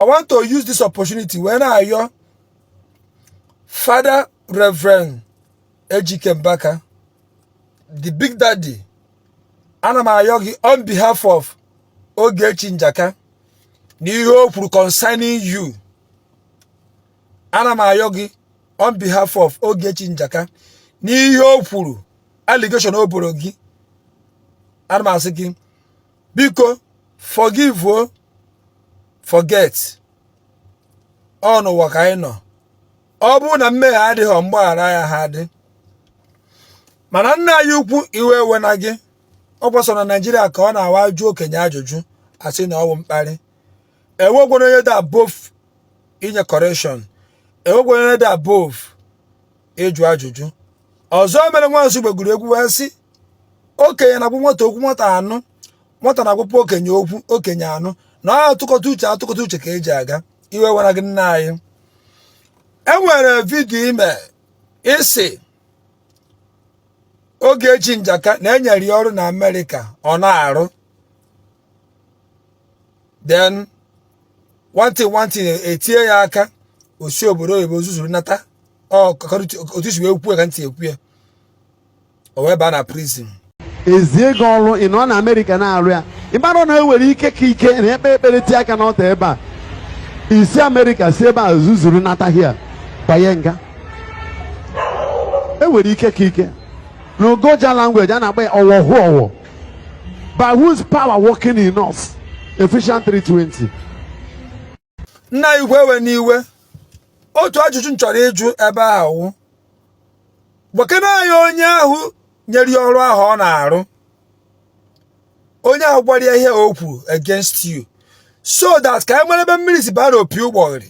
I want to use this opportunity wee na-ayọ Father Reverend Ejike Mbaka the Big Daddy ana m ayọ gị on behalf of Ogechi Njaka n'ihe o kwuru concerning you ana m ayọ gị on behalf of Ogechi Njaka n'ihe o kwuru allegation o boro gị ana m asị gị biko forgive o forget ọ n'ụwa ka anyị nọ ọ bụrụ na mmehie adịghị mgbaghara ayaha adị mana nna anyị ukwu iwe ewena gị ọ kwa sọ na Naịjirịa ka ọ na-awụ a jụọ okenye ajụjụ a sị na ọ wụ mkparị enwegwere onye dị above inye correction enwegwere onye dị above ịjụ ajụjụ Ọzọemena nwa Nsugbe gụrụ egwu wee sị okenye na-agwa nwata okwu nwata anụ nwata na-agwapụ okenye okwu okenye anụ na ọ atụkọta uche atụkọta uche ka eji aga iwe ewena gị nna anyị enwere vidio i mere ị sị Ogechi Njaka na enyere ya ọrụ na Amerịka ọ na-arụ then nwantị nwantị e tie ya aka o si obodo oyibo zuzuru nata ọ kakọrọ otu i si wee kwuo ka ntị ekwu ya o wee baa na prison ezie gị ọrụ ị nọ na amerịka na-arụ ya ị mara na enwere ike ka ike na ekpe ekpere tie aka n'ọta ebe a i si amerịka si ebe a zuzuru nata hia banye nga enwere ike ka ike na ogoja language a na-akpọ ya ọwọhụ ọwọ by whose power working in us Ephesians 3:20 nna anyị ukwu ewena iwe otu ajụjụ m chọrọ ịjụ ebe a wụ gwakene anyị onye ahụ nyere ya ọrụ ahụ ọ na-arụ onye ahụ gwara ya ihe o kwuru against you so that ka anyị mara ebe mmiri si bara opi ụgbọghịrị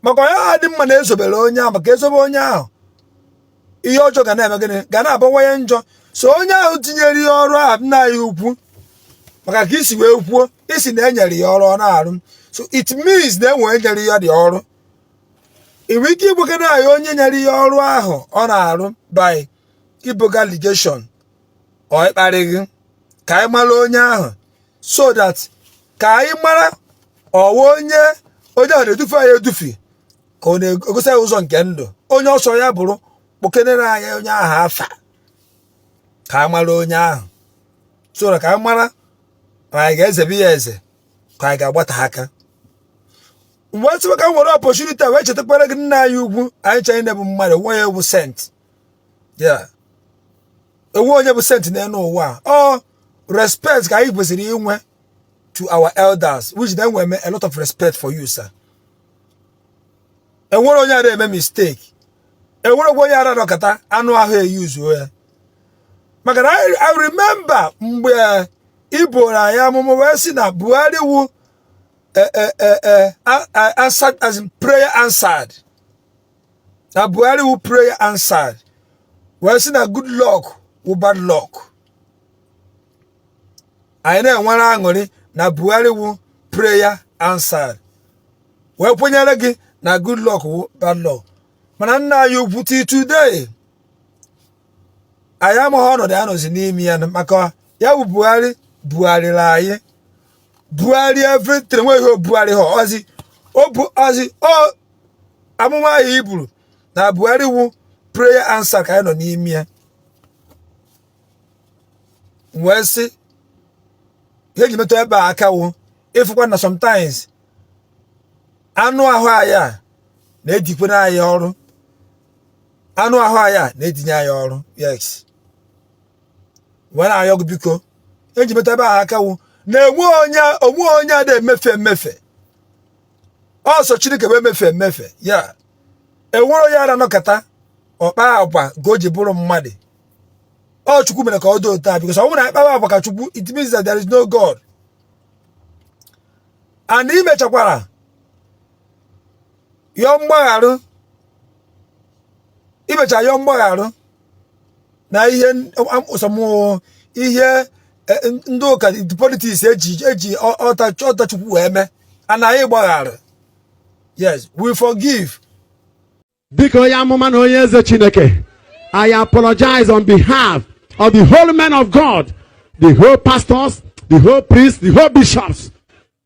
maka ọ yaha adị mma na ezobere onye ahụ maka ezobe onye ahụ ihe ọjọọ ga na-eme gịnị ga na-abawanye njọ so onye ahụ tinyere ya ọrụ ahụ nna anyị ukwu maka ka i si wee kwuo ị sị na enyere ya ọrụ ọ na-arụ so it means na enwere onye nyere ya ọrụ i nwee ike ị gwakene anyị onye nyere ya ọrụ ahụ ọ na-arụ by ibo gị allegation or ịkparị gị ka anyị mara onye ahụ so that ka anyị mara ọ wụ onye onye ahụ na-edufie anyị edufie ka ọ na-egosi anyị ụzọ nke ndụ onye ọ sọ ya bụrụ kpọkenere anyị onye ahụ afa ka anyị mara onye ahụ so that ka anyị mara ma anyị ga-ezebe ya eze ka anyị ga-agbata aka m wee sị ka m were opportunity a wee chetakwara gị nna anyị ukwu anyị ncha niine bụ mmadụ o nweghị onye wụ saint yeah enwe onye bụ saint n'elu ụwa a. ọ respect ka anyị kwesịrị inwe to our elders which enwere m a lot of respect for you sir enwere onye ara eme mistake enwerekwa onye ara nọkata anụ ahụ eyuzuo ya maka na I- I remember mgbe i buuru anyị amụma wee sị na Buhari wu eh, eh, eh, eh, a- a- answered as in prayer answered na buhari wu prayer answered wee sị na goodluck wu bad luck anyị enwere aṅụrị na buhari wu prayer answered wee kwenyere gị na goodluck wu bad luck mana nna anyị ukwu till today anyị amaghị ọnọdụ anyị nọzi n'ime ya maka ya bụ buhari buharịrị anyị buharịa everything nweghị o buhari ha ọzi o bu ọzi o amụma ahụ i buru na buhari wu prayer answered ka anyị nọ n'ime ya wee sị ihe e ji metụ ebe a aka wụ ị fụkwa na sometimes anụ ahụ anyị a na-edikwere anyị ọrụ anụ ahụ anyị a na-edinye anyị ọrụ yes wee na-arịọ gị biko e ji metụ ebe ahụ aka wụ na enwe onye enwe onye ara emefe emefe ọ sọ chineke wee mefe emefe ya enwere onye ara nọkata ọ kpaa agwa nke o ji bụrụ mmadụ ọ chukwu mere ka ọ dị otu a because ọ bụrụ na anyị kpawa agwa ka chukwu it means that there is no god and i mechakwara yọọ mgbagharụ i mechaa yọọ mgbagharụ na ihe mkpụsọmụọ ihe ndị ụka politics eji eji altar chukwu wee mee and anyị gbaghara yes we forgive dịka onye amụma na onye eze chineke i apologize on behalf of the whole men of god the whole pastors the whole priests the whole bishops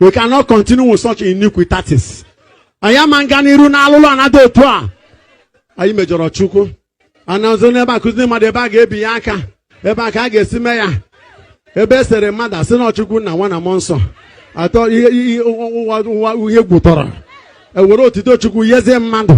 we cannot continue with such iniquities anyị ama nga n'iru n'alụlụ ana dị otu a anyị mejọrọ chukwu a na-azọ n'ebe a kụzi mmadụ ebe a ga-ebi ya aka ebe a ka a ga-esi mee ya ebe e sere mmadụ a sị na ọ chukwu na nwa na mmụọ nsọ atọ ihe ihe- ụwa ụwa- ihe gwụtọrọ ewere otito chukwu nyezie mmadụ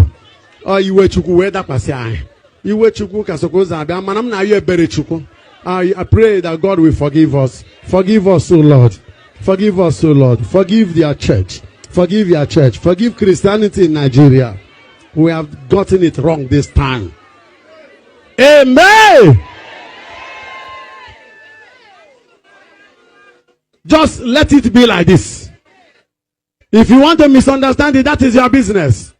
ọ iwe chukwu wee dakwasị anyị iwe chukwu ka sokwa ụzọ abịa mana m na-ayọ ebere chukwu I, I pray that God will forgive us. Forgive us, O Lord. Forgive us, O Lord. Forgive the church. Forgive your church. Forgive Christianity in Nigeria. We have gotten it wrong this time. Amen. Just let it be like this. If you want to misunderstand it, that is your business.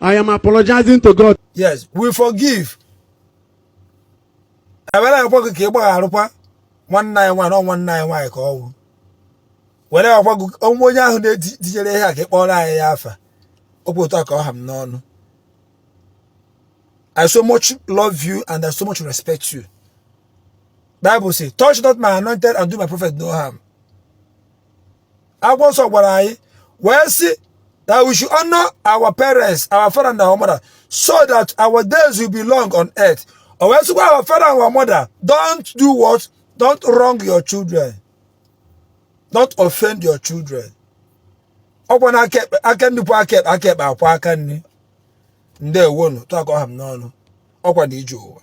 I am apologizing to God. Yes, we forgive. Ebere akwa gị ka ị gbagharụkwa nwanne anyị nwaanyị na nwanne anyị nwaanyị ka ọ nwụrụ. Were akwa gị onwe onye ahụ na-etinyere ihe a ka ị kpọrọ anyị ya afa. Ọ bụ otu a ka ọ ha m n'ọnụ. I so much love you and I so much respect you. Bible says, touch not my anointed and do my prophet no harm. akwụkwọ nsọ gwara anyị wee sị that we should honor our parents our father and our mother so that our days will be long on earth o wee sịkwa our father and our mother don't do what don't wrong your children don't offend your children ọkwa na aka ekpe aka nri kwọọ aka ekpe aka ekpe akwọọ aka nri ndewonụ otu a ka ọ ha m n'ọnụ ọkwa na ije ụwa